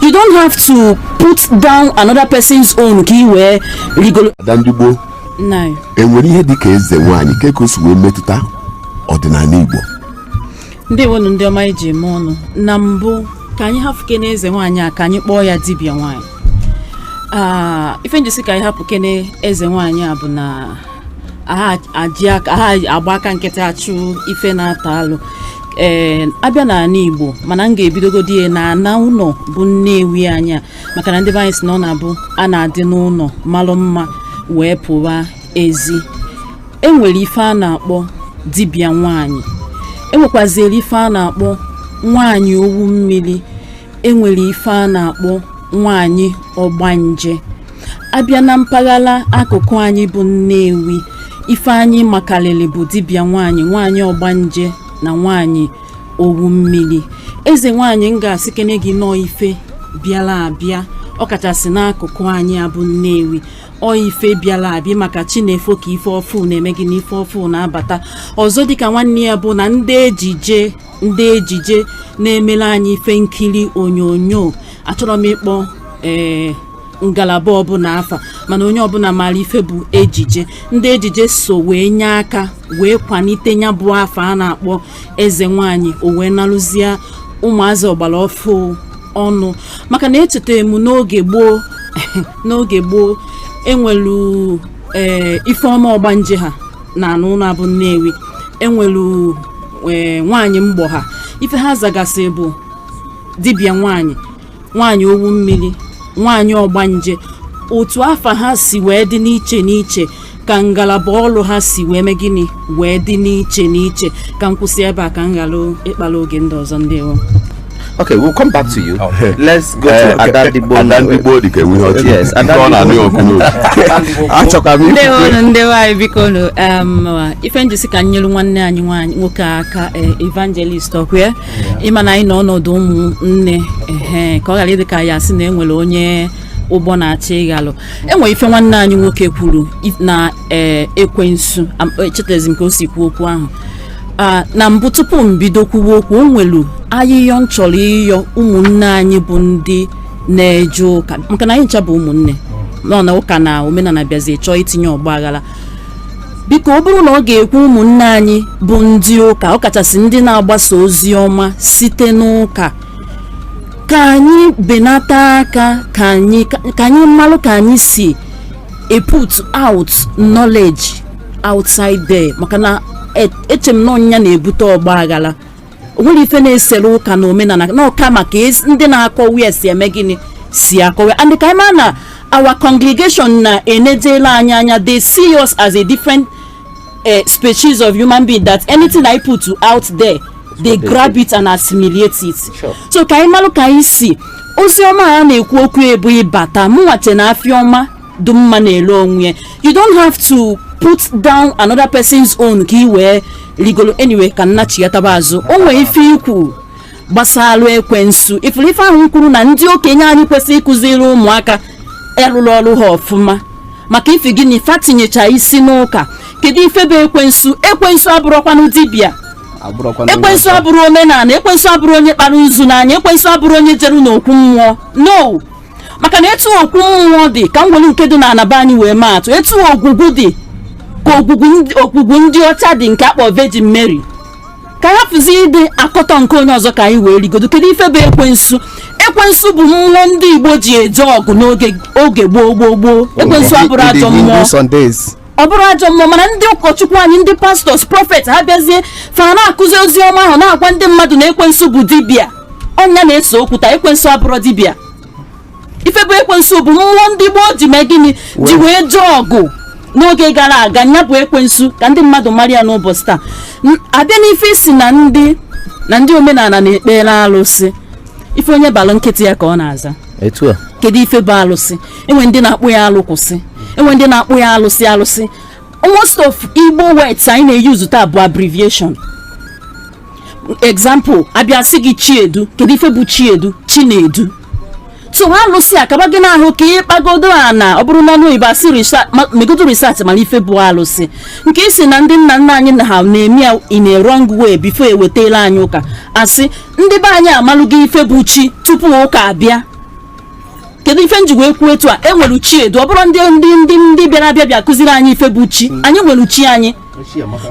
you don't have to put down another person's own ka i wee rigolo ada ndị Igbo nine enwere ihe dị ka eze nwaanyị ka ka o si wee metụta ọdịnala igbo ndewonu ndị ọma eji eme ọnụ na mbụ ka anyị hapụ kene eze nwaanyị a ka anyị kpọọ ya dibịa nwaanyị Ah, ife m ji sị ka anyị hapụ kene eze nwaanyị a bụ na aha aji aka- aha agba aka nkịtị achụ ife na-ata alụ ee abịa n'ana igbo mana m ga-ebidogodi ya na ana ụnọ bụ nnewi anyị a maka na ndị be anyị sị na ọ na-abụ a na-adị n'ụnọ malụ mma wee pụwa ezi enwere ife a na-akpọ dibịa nwanyị enwekwaziri ife a na-akpọ nwanyị owu mmiri enwere ife a na-akpọ nwanyị ọgbanje abịa na mpaghara akụkụ anyị bụ Nnewi ife anyị makalịlị bụ dibịa nwaanyị nwaanyị ọgbanje na nwaanyị owu mmiri eze nwaanyị m ga-asị kene gị na ọ ife bịara abịa ọkachasị n'akụkụ anyị a bụ Nnewi ife bịara abịa maka chi na-efo ka ife ọfụ na-eme gịnị ife ọfụ na-abata ọzọ dịka nwanne ya bụ na ndị ejije ndị ejije na-emere anyị ife nkiri onyonyo achọrọ m ịkpọ ee eh, ngalaba ọbụla afa mana onye ọbụla maara ife bụ ejije ndị ejije so wee nye aka wee kwalite ya bụ afa a na-akpọ eze nwanyị o wee nalụzie ụmụazị ọgbara ọfụ ọnụ maka na echeta m n'oge gboo n'oge gboo enwelu ee eh, ifeọma ọgbanje ha na ana ụnọ a bụ nnewi enwelu eh, nwaanyị mgbọ ha ife ha zagasị bụ dibịa nwaanyị nwaanyị owu mmiri nwaanyị ọgbanje otu afa ha si wee dị n'iche n'iche ka ngalaba ọrụ ha si wee mee gịnị wee dị n'iche n'iche ka m kwụsị ebe a ka m ghara ịkpara oge ndị ọzọ ndewo Okay, we'll come back to you. Okay. Let's go to Adandigbo. Adandigbo dị ka enwe ihe ọchị. Yes, Adandigbo. Achọka m Ndị ọrụ ndị nwaanyị biko nụ um, ife m ji sị ka m nyere nwanne anyị nwanyị nwoke aka eh, evangelist ọkwa ị ma na anyị nọ ọnọdụ ụmụnne ehe ka ọ ghara ịdị ka ya sị na e nwere onye ụgbọ na-achị ịghalụ enwere ife nwanne anyị nwoke kwuru i- na ee, ekwensu am- echetezi m ka o si kwuo okwu ahụ Ah, na mbụ tupu m bido kwuwe okwu o nwelu ayịyọ m chọrọ ịyọ ụmụnne anyị bụ ndị na-eje ụka maka na anyị ncha bụ ụmụnne nọ na ụka na omenana bịazi chọọ itinye ọgba aghara biko ọ bụrụ na ọ ga-ekwe ụmụnne anyị bụ ndị ụka ọkachasị ndị na-agbasa ozi ọma site n'ụka ka anyị benata aka ka anyị ka anyị malụ ka anyị si eput out knowledge outside there maka na e- eche m na ọ nya na-ebute ọgba aghara o nwere ife na-esere ụka na omenala na ọka maka ezi- ndị na-akọwa ya si eme gịnị si akọwa and ka ị ma na our congregation na-enedela anyị anya they see us as a different uh, species of human being that anything I put out there they grab it and assimilate it Sure. so ka anyị malụ ka anyị si ozi ọma a na-ekwu okwu ebubata mụ nwa che na afịa ọma dị mma na-ele onwe ya you don't have to put down another person's own ka ị wee rigolo anyway ka m nachighataba azụ o nwee ife i kwu gbasalụ ekwensu ị fụrụ ife ahụ i kwuru na ndị okenye anyị kwesịrị ịkụziri ụmụaka arụrụ ọrụ ha ọfụma maka ifi gịnị fa tinyecha isi n'ụka kedu ife bụ ekwensu ekwensu abụrụkwanụ dibịa abụrụkwana onye ekwensu ọzọ. abụrụ omenala ekwensu abụrụ onye kpara nzu n'anya ekwensu abụrụ onye jeru n'okwu mmụọ no maka na etu okwu mmụọ dị ka m were nke dị na ana be anyị wee maa atụ etu ogwugwu dị ka ogwugwu ndị ọcha dị nke a kpọ Virgin Mary ka a hapụzi ịdị akọtọ nke onye ọzọ ka anyị wee rigodo kedu ife bụ ekwensu ekwensu bụ mmụọ ndị Igbo ji eje ọgụ n'oge gboo gboo gboo ekwensu abụrụ ajọ mmụọ ọ bụrụ ajọ mmụọ mana ndị ụkọchukwu anyị ndị pastors prophet ha bịazie fa na-akụzi ozi ọma ahụ na-agwa ndị mmadụ na ekwensu bụ dibịa ọ nya na-ese okwu taa ekwensu abụrụ dibịa ife bụ ekwensu bụ mmụọ ndị Igbo ji mee gịnị ji wee jee ọgụ n'oge gara aga nya bụ ekwensu ka ndị mmadụ mara ya n'ụbọchị taa N- a bịa n'ife ị sị na ndị na ndị omenala na-ekpere alụsị ife onye balụ nkịta ya ka ọ na-aza etu a kedu ife bụ alụsị e nwe ndị na-akpọ ya alụ kwụsị e nwe ndị na-akpọ ya alụsị alụsị most of igbo words anyị na-eyuzu taa bụ abbreviation example a bịa sị gị chiedu kedu ife bụ chiedu chinedu so ha alụsị akaba gị n'ahụ ka ị kpagodo a na ọ bụrụ na ọnụ oyibo a sị megodo research mana ife bụ alụsị nke ị sị na ndị nna nna anyị na ha na-eme ya in a wrong way before e wetela anyị ụka asị ndị be anyị amalụgo ife bụ chi tupu ụka abịa kedu ife m ji wee kwuo etu a e nwere chiedu ọ bụrụ ndị ndị ndị ndị bịara abịa bịa kụziri anyị ife bụ chi anyị nwere chi anyị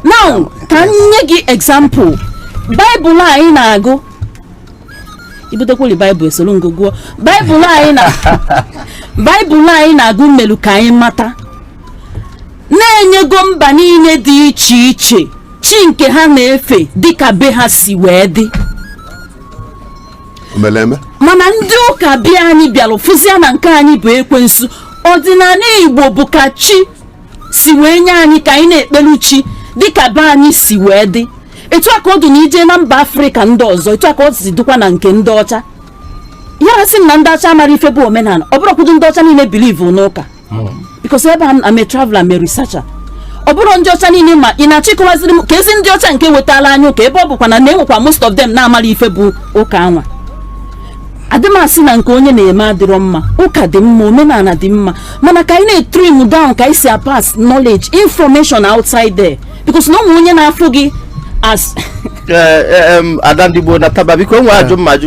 now ka m nye gị example baịbụl anyị na-agụ i butekwuli baịbụl esoro m gị gụọ baịbụl anyị na baịbụl anyị na-agụ melu ka anyị mata na e nyego mba niile dị iche iche chi nke ha na-efe dịka be ha si wee dị o mele eme mana ndị ụka be anyị bịara fụzia na nke anyị bụ ekwensu ọdịnala igbo bụ ka chi si wee nye anyị ka anyị na-ekpelu chi dịka be anyị si wee dị etu a ka ọ dị na i je na mba afrịka ndị ọzọ etu a ka ọ si dịkwa na nke ndị ọcha ya sị m na ndị ọcha mara ife bụ omenala ọ bụrụkwudo ndị ọcha niile believe n'ụka because ebe I'm a traveler I'm a researcher ọ bụrọ ndị ọcha niile ma ị na-achọ ịkọwaziri m ka ezi ndị ọcha nke wetara anyị ụka ebe ọ bụkwa na na-enwekwa most of them na-amarọ ife bụ ụka anwa adị m asị na nke onye na-eme adịrọ mma ụka dị mma omenala dị mma mana ka anyị na-etrim down ka anyị si apass knowledge information outside there because na ụmụ onye na-afụ gị as Ee, ee, em, ada ndị Igbo na taba biko nwe ajụ mma ajụ